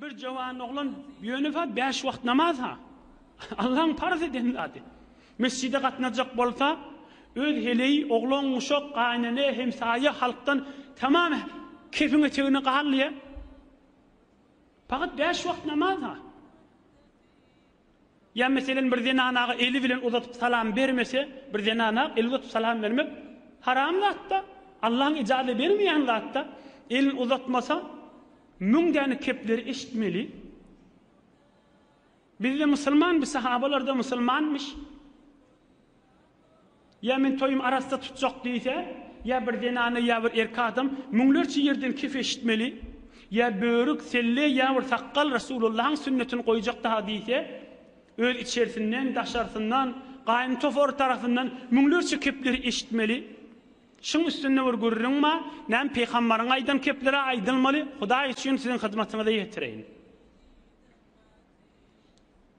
Bir jowan oglan ýönefa bäş wagt namaz ha Allaň parz eden zady. Mesjide gatnajak bolsa öz heleý, oglan, guşak, gaýynene, hemsaýa halkdan tamam kefiň etegine galýa. Pagat bäş wagt namaz ha. Ýa meselen bir zenanaga eli bilen uzatyp salam bermese, bir zenana el uzatyp salam bermek haram zatda, Allaň ijaze bermeýän zatda, elini uzatmasa müň däne kepleri eşitmeli. Bizde musulman bi sahabalarda musulmanmyş. Ýa men toýumy arassa tutjak diýse, ýa bir zenana ýa bir erkek adam müňlerçe ýerden kef eşitmeli, ýa börük, selle ýa bir sakgal Resulullahyň sünnetini goýjak daha diýse, öz içersinden, daşarsyndan, gaýyn topary tarapyndan müňlerçe kepleri eşitmeli. Şuň üstünde bir gürrüň bar, näme Pygamberiň aýdan kepleri-ä aýdylmaly, Hudaý üçin siziň hyzmatyňyza ýetireýin.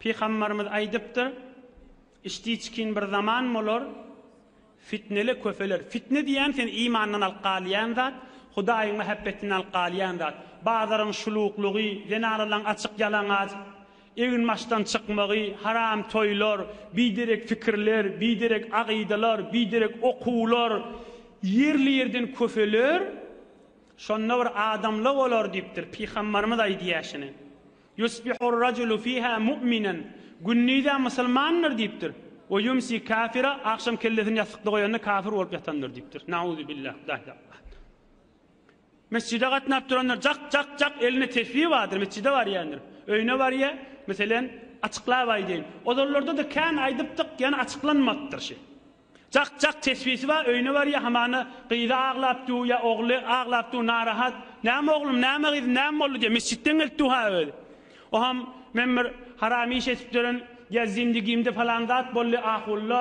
Pygamberimiz aýdypdyr, Içdiçkin bir zaman bolar, fitneler köpeler. Fitne diýýän seni imandan alyp galýan zat, Hudaýyň mähebbetinden alyp galýan zat. Bazaryň şuluklygy, zenanalaryň açyk ýalaňaç egin-maçdan çykmagy, haram toýlar, biderek pikirler, biderek agydalar, biderek okuwlar ýerli-ýerden köpeler. Şonda bir adamla bolar diýipdir. Pygamberimiz aýdýar şuny. Ýusbihur-rajulu fiha mu'minan, Gündize musulmandyr diýipdir. We ýumsi kafira, Agşam kellesini ýassykda goýanda kafir bolup ýatandyr diýipdir. Nauzubillah, daýy daýy. Mesjide gatnap duranlar jak, jak, jak, elinde tesbi bardyr, mesjide barýandyr. Öýüne barýa, meselen, açyklap aýdaýyn. Ozallarda-da kän aýdypdyk, ýöne açyklanmapdyr şi. Jak jak tesbisi bar öýüne barýa hamana gyzy aglap du ýa ogly aglap du narahat näme oglum näme gyzym näme boldy diýe mesjitden gelip du ha özi oham men bir haram iş etipdirin ýa zindigimde falan zat boldy ahulla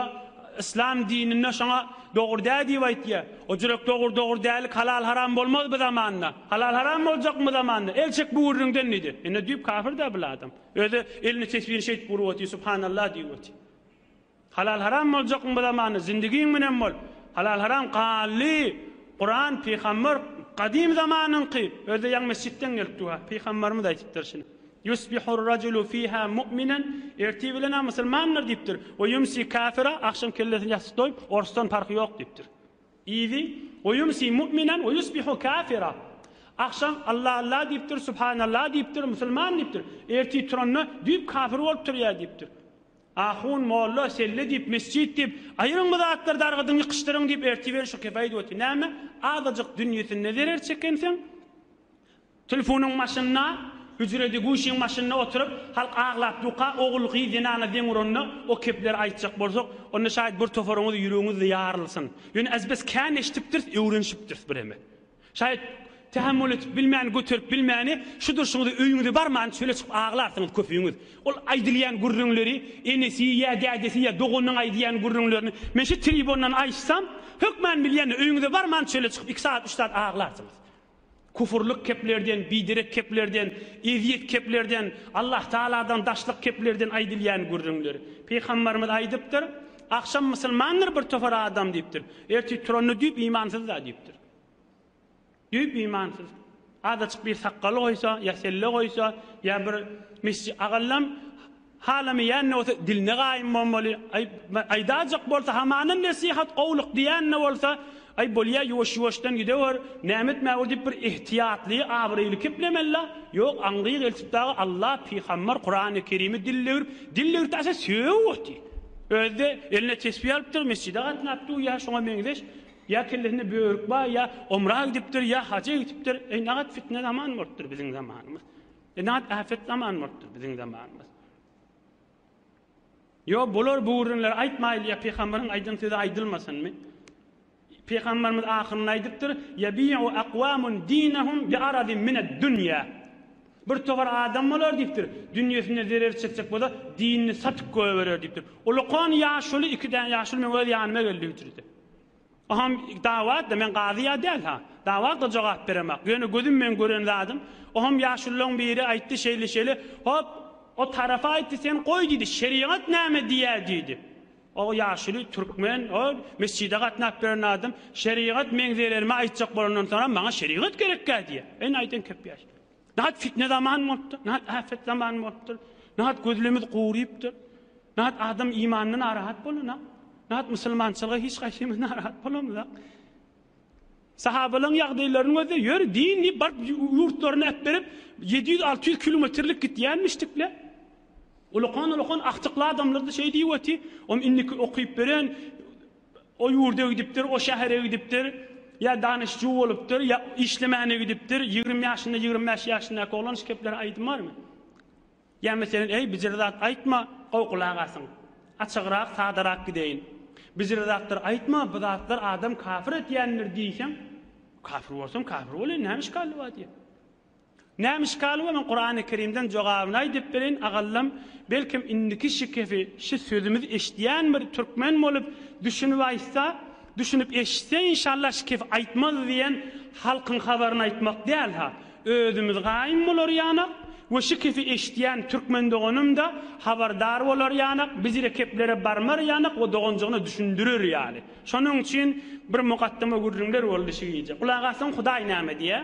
yslam dininde şoňa dogry dä diýip aýtýa o jürek dogry dogry dälik halal haram bolmaz bu zamanda halal haram boljakmy bu zamanda el çek bu gürrüňden diýdi ine düýp kafir dä bul adam özi elini tesbini şeýdip urup otyr subhanallah diýip otyr. Halal haram boljakmy bu zamanda zindigiň münen bol halal haram kally Kuran pygamber gadym zamanyňky özde ýaň mesjitden gelip duha pygamberimiz aýtypdyr şuny Yusbihur rajulu fiha mu'minen ertir bilen a musulmandyr diýipdir we yumsi kafira agşam kellesini ýassyk doýup orsdan parhy ýok diýipdir idi we yumsi mu'minen we yusbihu kafira agşam Allah Allah diýipdir subhanallah diýipdir musulman diýipdir ertir turanda düýp kafir bolup turýar diýipdir Ahun molla selle diýip mesjit diýip aýyryň bu zatlary dargadyň ýykyşdyryň diýip ertiberi şu kefe aýdyp otyr näme azajyk dünýesinde zerer çekenseň tlfonyň başynda hüjredi guşyň başynda otyryp halk aglap duka ogul gyz zenana deň uranda o kepleri aýtjak bolsak onda şaýt bir toparyňyz ýüregiňizde ýarylsyn ýöne ez bes kän eşdipdiris öwrenşipdiris bireme. Şaýat, Tähemmül edip bilmän, göterip bilmäni, şu durşuňyza öýüňize barman, çöle çykyp aglarsyňyz köpüňiz. Ol aýdylýan gürrüňleri, enesi ýa dädesi ýa doganynyň aýdýan gürrüňlerini men şu tribundan aýtsam, hökman bilýän, öýüňize barman çöle çykyp iki sagat, üç sagat aglarsyňyz. Kufrlyk keplerden, biderek keplerden, ezýet keplerden, Allahtagaladan daşlyk keplerden aýdylýan gürrüňler. Pygamberimiz aýdypdyr, Agşam musulmandyr bir topar adam diýipdir. Ertir turanda düýp imansyzda diýipdir. Düýp imansyz. Azajyk bir sakgal goýsa, ýa selle goýsa, ýa bir mesji agallam halamaýan-da bolsa diline gaýym bolmaly. Aý, aýdajak bolsa hamanam nesihat, gowluk diýen-de bolsa, aý, bolýa, ýuwaş-ýuwaşdan gidewer, näme etmäge diýip bir ehtiýatly, abraýly keplemeli-la. Ýok, aňryk eltip dagy Alla, pygamber, Kurany Kerimi dil döwrüp, dil döwürde asa sögüp otyr. Özi-de eline tesbi alypdyr, mesjide gatnapdyr, ýa şoňa meňzeş Ýa kellesinde börük bar, ýa omra gidipdir, ýa haja gidipdir. Eý, nagat fitne zaman bolupdyr biziň zamanymyz. Eý, nagat äpet zaman bolupdyr biziň zamanymyz. Ýok, bular bu gürrüňleri aýtmaýly, ýa pygamberiň aýdan sözi aýdylmasynmy? Pygamberimiz ahyrynda aýdypdyr, Ýebi'u akwamun dinehum bi aradin mined-dünýä. Bir towar adam bolar diýipdir, dünýesine zerer çekjek bolsa, dinini satyp goýberer diýipdir. Ulakan ýaşuly iki däne ýaşuly meň öz ýanyma geldi hüjrede. Oham dawatda men gazy ýa däl ha. Dawatda jogap beremak. Ýöne gözüm meň gören zadym. Oham ýaşullaň biri aýtdy şeýle şeýle. Hop o tarapy aýtdy sen goý diýdi şerigat näme diýýä diýdi. O ýaşuly türkmen o mesjide gatnap beren adam şerigat meň zererime aýtjak bolandan soňam maňa şerigat gerekkä diýýä. Ene aýdan köp ýaş. Nahak fitne zaman bolupdyr, nahak afet zaman bolupdyr, nahak gözlemiz gurypdyr, nahak adam imanyndan arahat bolanok, nahak musulmançylyga hiç gaýsymyz narahat bolamyzak. Sahabalaň ýagdaýlaryny gözle, ýör din diýip baryp ýurtlaryny äpberip 700-600 kilometrlik gitýänmişdikle. Ulakan-ulakan aktykly adamlar-da şeý diýip oty, om indiki okyp beren O ýurda gidipdir, o şähere gidipdir, ýa danyşjy bolupdyr, ýa işlemäne gidipdir, ýigrimi ýaşynda, ýigrimi bäş ýaşyndaky oglan şu kepleri aýdym barmy? Ýa meselen, eý, bijire zat aýtma, gowgulagasyň. Açygrak, sadarak gideýin. Bijire zatlar aýtma, bu zatlar adam kafir etýändir diýseň, kafir bolsaň, kafir bol, näme işgally bar diýýär. Näme işgal bolan Kurany Kerimden jogabyny aýdyp bereýin agallam belkem indiki şikesi şu sözümizi eşidýän bir türkmen bolup düşünip aýtsa düşünip eşitse inşallah şikesi aýtmaz diýen halkyň habaryny aýtmak däl ha özümiz gaýym bolarýanak we şikesi eşidýän türkmen doganymda habardar bolarýanak biz ile keplere barmarýanak we doganjygyna düşündirer ýaly şonuň üçin bir mugaddama gürrüňler boldy şu gije gulak assaň hudaý näme diýýär.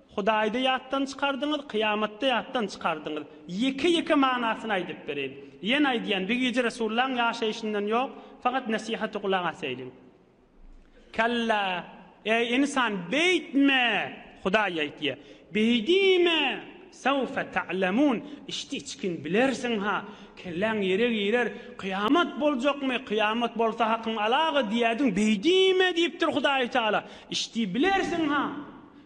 Hudaýda ýatdan çykardyňyz, kyýamatda ýatdan çykardyňyz. Ýeke-ýeke manasyny aýdyp bereýin. Ýene aýdýan, bir gije Resulullahyň ýaşaýşyndan ýok, fakat nesihaty gulak asaýlyň. Kalla, eý ynsan, beýtme! Hudaý aýtýa, Beýdime! Sawfa ta'lemun, içdi-içgin bilersiň-ha. Kelläň ýere girer, Kyýamat boljakmy, kyýamat bolsa hakyň alagy diýädiň, beýdime diýipdir Hudaýy Teala. Içdi bilersiň-ha.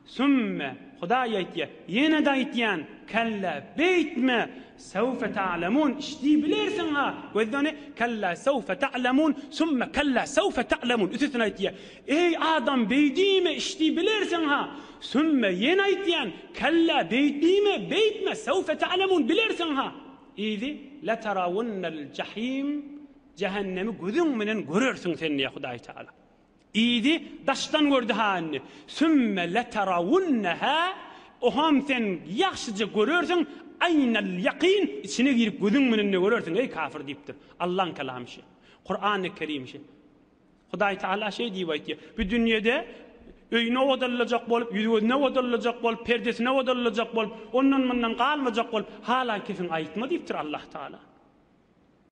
Sümme, Hudaý aýtýar, ýene-de aýtýan, Kella, beýtme! Sewfe ta'lemun, işdi bilersiň-ha! Gözleni, Kella sewfe ta'lemun, sümme kella sewfe ta'lemun, üçüsini aýtýar. Eý, adam, beýdime, işdi bilersiň-ha! Sümme, ýene aýtýan, Kella, beýtdime, beýtme, sewfe ta'lemun, bilersiň-ha! Yzy, Letarawunnel jahim, jähennemi gözüň menen görersiň sen diýýär Hudaý Tagala. Diýdi, daşdan gördi ha indi. Sümme leterawunneha, Oham sen ýagşyja görersiň, aýnal ýakyn, içine girip gözüň menende görersiň, eý kafir diýipdir. Allaň kelamy şi. Kurany Kerim şi. Hudaý Tagala şeý diýip aýtýar, Bu dünýede öýüni owadanlajak bolup, ýüz-gözüni owadanlajak bolup, perdesini owadanlajak bolup, ondan-mundan galmajak bolup, halaý kesiň aýtma diýipdir Allahtagala.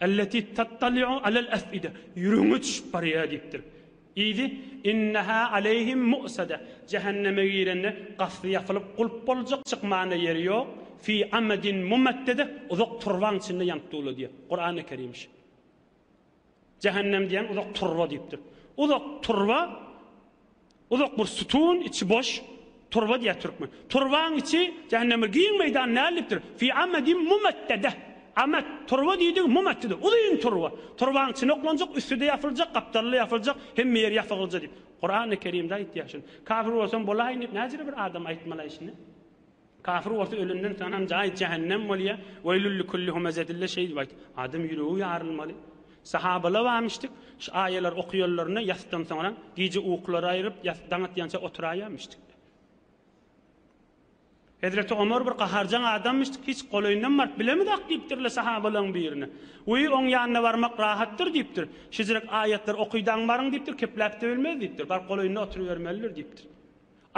Elleti tattali'u alel ef'ide, ýüregiňe çüşüp barýar diýipdir. Yzy, Inneha aleyhim mu'sade, jähenneme girende gafly ýapylyp gulp boljak, çykmana ýeri ýok, fi amadin mumaddede, uzak turbaň içinde ýanyp dula diýýär. Kur'an-y Kerim şi. Jähennem diýen uzak turba diýipdir. Uzak turba Uzak bir sütun, içi boş, turba diýýär türkmen. Turbaň içi jähenneme giň meýdan näldipdir? Fî amadin mumaddedeh. Amad, turba diýdigi mumaddede, uzyn turba. Turbaň içine oklanjak, üsti-de ýapyljak, gapdaly-da ýapyljak, hemme ýeri ýapygylja diýip. Kurany Kerimde aýtýar şuny. Kafir bolsam bolaýyn diýip näjele bir adam aýtmalaý şuny? Kafir bolsa ölenden soň hem jaýy jähennem bolýar, Weýlül likulli humezedille şeýdip aýt, adam ýüregi ýarylmaly. Sahabalar barmyşdyk, şu aýalar okaýanlarynda ýasdan soňra gije uklary aýryp ýas daň atýança oturaýamyşdyk. Hezreti Omar bir gaharjaň adammyşdyk, hiç golaýyndan baryp bilemizok diýipdirler sahabalaryň birine. Wiý oň ýanyna barmak rahatdyr diýipdir. Şejirek aýatlary okydaň baryň diýipdir, kepläp-de bilmez diýipdir, baryp golaýynda oturybermelidir diýipdir.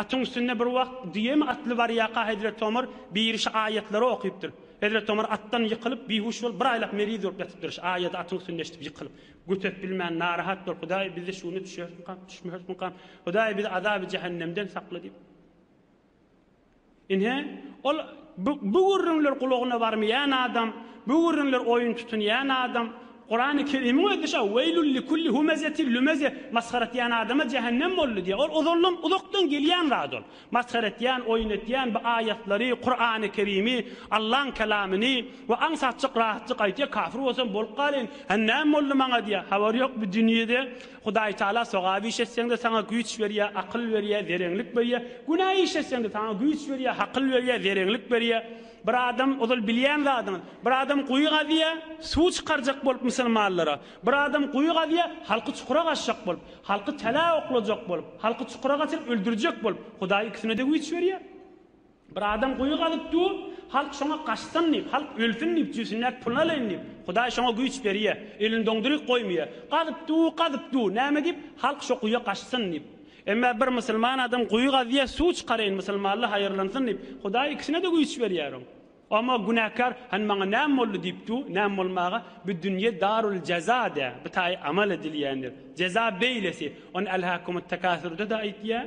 Atyň üstünde bir wagt düýemi atly barýaka Hezreti Omar birişi aýatlary okypdyr. Hezreti Omar atdan ýykylyp, bihuş bolup, bir aýlap meriz bolup ýatypdyr. Şi aýady atyň üstünde eşidip ýykylyp, göterip bilmän, narahat bolup, Hudaý bizde şu günde düşerismikam, düşmerismikam? Hudaý bizi azaby jähennemden sakla diýip. Ynha, ol bu, bu gürrüňler gulagyna barmaýan adam, bu gürrüňler oýun tutunýan adam, Kurany Kerimiň özi şa, Weýlül likulli humezetil lümeze, masgara etýän adama jähennem boldy diýýär. Ol ozaldan, uzakdan gelýän zat ol. Masgara etýän, oýun etýän, bu aýatlary, Kurany Kerimi, Allaň Kelamyny we aňsatjyk, rahatjyk aýtýar, kafir bolsam bolup galaýyn, hä näme boldy maňa diýýär. Habary ýok bu dünýede Hudaýtagala sogap iş etseň-de saňa güýç berýär, akyl berýär, zereňlik berýär, günä iş etseň-de saňa güýç berýär, hakyl berýär, zereňlik berýär. Bir adam, ozal bilýän zadyňyz, bir adam guýy gazýar, suw çykarjak bolup musulmanlara, bir adam guýy gazýar, halky çukura gaçjak bolup, halky tälä oklajak bolup, halky çukura gaçyryp öldürjek bolup, Hudaý ikisine-de güýç berýär. Bir adam guýy gazyp dur, halk şoňa gaçsyn diýip, halk ölsün diýip, jübüsindäki puluny alaýyn diýip, Hudaý şoňa güýç berýär, elini doňduryk goýmaýar. Gazyp dur, gazyp dur, näme diýip, halk şo guýa gaçsyn diýip. Emma bir musulman adam guýy gazýar, suw çykaraýyn, musulmanlar haýyrlansyn diýip, Hudaý ikisine-de güýç berýär oň. Emma günäkär, Hany maňa näme boldy diýip dur, näme bolmaga, bu dünýe darul jeza dä, bu taýy amal edilýändir. Jeza beýlesi. Ony Elhakumut-tekasur-da-da aýtýar.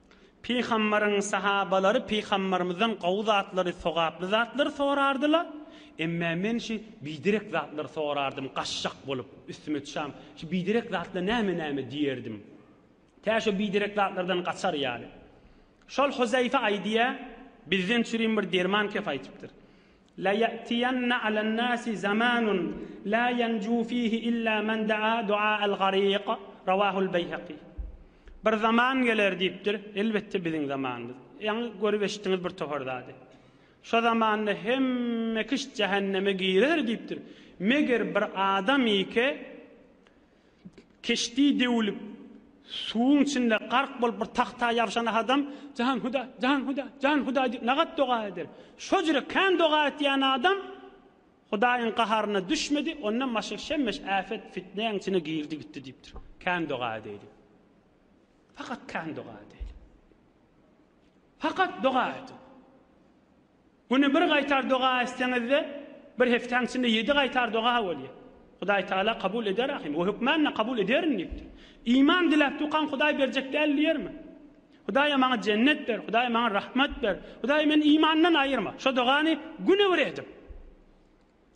Pygambaryň sahabalary Pygambarymyzdan gowy zatlary, sogaply zatlary sorardylar. Emme men şi biderek zatlary sorardym, gaçjak bolup, üstüme çam, şi biderek zatla näme-näme diýerdim. Tä şo biderek zatlardan gaçar ýaly. Şol Huzaýfe aýdýar, bizden çürim bir derman kep aýtypdyr. La ýa'tiýanna alan-nasi zamanun la ýanju fihi illa men da'a du'a'al gariq, Rawahul Beýhaki. Bir zaman geler diýipdir, elbetde biziň zamanymyz. Ýaňy görüp eşitdiňiz bir topar zady. Şo zamanda hemme kişt jähenneme girer diýipdir. Meger bir adam ýeke. Keşdi döwülip, suwuň içinde gark bolup bir tagta ýabşan adam, Jan Hudaý, jan Hudaý, jan Hudaý diýip nagat doga eder. Şojere kän doga etýän adam Hudaýyň gaharyna düşmedi, ondan başga şemmeş äpet, fitnäň içine girdi gitdi diýipdir. Kän doga edäýli. Fakat kän doga edäýli. Fakat doga edin. Güni bir gaýtar doga etseňizde bir hepdäň içinde ýedi gaýtar doga bolýar. Hudaý Taala kabul eder ahim. O hökmänle kabul ederin diýipdir. Iman diläp dukan Hudaý berjek däl diýermi? Hudaýa maňa jennet ber, Hudaý maňa rahmat ber, Hudaý meni imandan aýyrma. Şo dogany güni bir edip.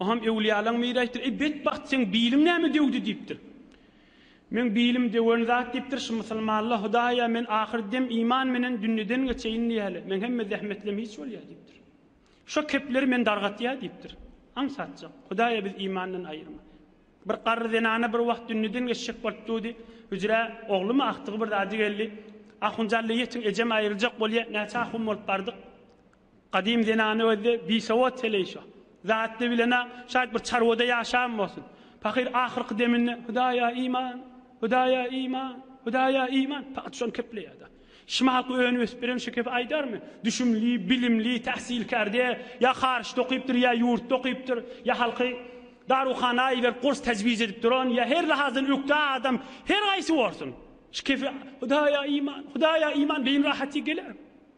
O hem öwlüýalaň biri aýtdyr, Eý, betbagt, seň biliň näme döwdi? diýipdir. Meň bilim döwen zat diýipdir, şu musulmanlar, Hudaý-a, men ahyr dem iman menen dünýeden geçeýin diýäýeli, meň hemme zähmetlem hiç bolýar diýipdir. Şo kepleri men dargatýar diýipdir. Aňsatjak, Hudaý-a, bizi imandan aýyrma. Bir garry zenana bir wagt dünýeden geçjek bolup durdy. Hüjrä oglumy agtygy bir zady geldi. Ahunjalla ýetiň, ejem aýryljak bolýar. Näçe ahun bolup bardyk. Gadym zenany özde bisowat heleýşa. Zatly bilen-ä, şaýt bir çarwada ýaşan bolsun. Pahyr ahyrky deminde, Hudaýa iman! Hudaýa iman! Hudaýa iman! Pahyr şony kepleýär-de. Şymaky önüp-ösüp beren şekepe aýdarmy? Düşümli, bilimli, täsilkär-de, ýa haryçda okypdyr, ýa ýurtda okypdyr, ýa halky daruhana iberip gurs täjwiz edip duran, ýa her lahazdan ökde adam, her haýsy bolsun, şekepe Hudaýa iman! Hudaýa iman! Beýin rahaty geler.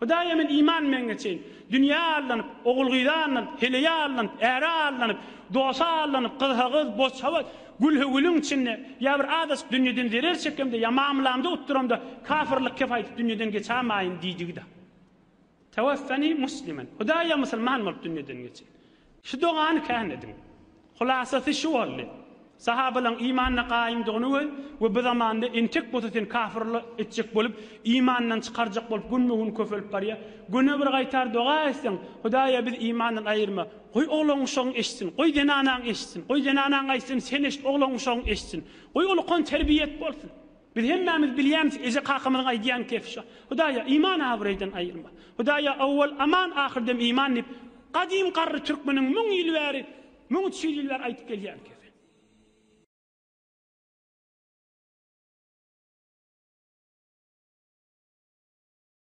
Hudaýa men iman etmegiňe çenli, dünýä aldanyp, ogul-gyza aldanyp, heleýe aldanyp, äre aldanyp, dosa aldanyp, gyzha-gyz, boçha-boç, gülhä-gülüň içinde, ýa bir azajyk dünýeden zerer çekemde, ýa mamlamda utduramda, kafyrlyk kep aýdyp dünýeden geçämaýyn diýdigi-dä. Tawafani musliman, Hudaýa musulman bolup dünýeden geçeýin. Şu dogany kän ediň. Hulasasy şu boldy, Sahabalaň imanda gaýymdygyny we we bu zamanda entek bolsa seni kafir etjek bolup, imandan çykarjak bolup günbe-gün köpelip barýar. Güne bir gaýtar doga etseň, Hudaýa bizi imandan aýyrma. Goý oglan-uşagyň eşitsin, goý zenanaň eşitsin, goý zenanaň aýtsyn, sen eşit, oglan-uşagyň eşitsin. Goý ol ukan terbiýe et bolsun. Biz hemmämiz bilýämizki, eje-kakamyzyň aýdýan gepi şo. Hudaýa, iman abraýdan aýyrma. Hudaýa, owwal aman, ahyrdem iman diýip, gadym garry türkmeniň müň ýyl bäri, müň üç ýüz ýyl bäri aýdyp gelýän gepi.